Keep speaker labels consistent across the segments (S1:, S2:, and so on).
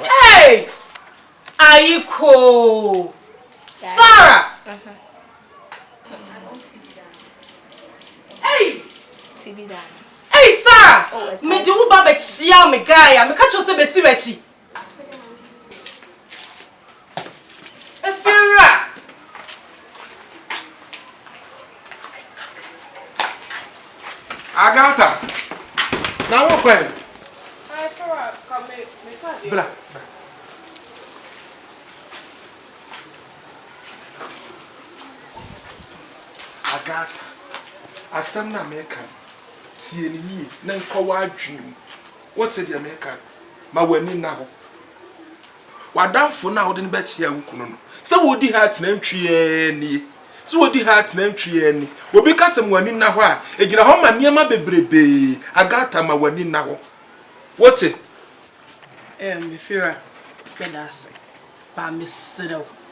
S1: Hey!
S2: Ayiko! Sarah! Hey! Hey, Sarah! Oh, me do ba be chia me guy. Me catch you say be si be chi. Efiewura!
S3: Agatha, na wo kɔ ɛ? Efiewura, ka
S2: me me tadeɛ. Bra.
S3: Agatha, asɛm na meka no, tie no yie na nkɔ w'adwene mu. Wote deɛ meka no? Ma w'ani nna hɔ. W'adamfo no a wode no bɛkyea wo kunu no, sɛ wodi ha atena ntwi ɛɛ nie, sɛ wodi ha atena ntwi ɛɛ ni. Obi ka sɛ ma w'ani nna hɔ a, ɛgyina hɔ ma nneɛma bebrebee, Agatha, ma w'ani nna hɔ. Wote? Ɛɛ,
S2: Mefira, meda ase. Baa, mesrɛ wo.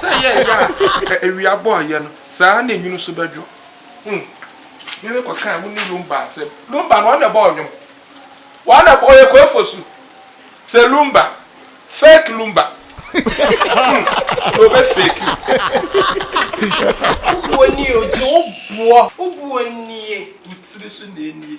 S3: Sɛ ɛyɛ ya a, awia bɔ ayɛ no, saa ara na nwunu nso bɛdwo. Hmm. Me ne kɔkaa wo ne Lumba asɛm. Lumba no, ɔno na ɛbɔɔ nnwom. Ɔno na ɛbɔ, ɔyɛ Koi Fosu. Sɛ Lumba, fake Lumba. Hmm. Na ɔbɛ fake wo.
S2: Wo bu ɔnie, ɔgye wo boɔ. Wo bu ɔnie. Wo tiri so na ɛnie.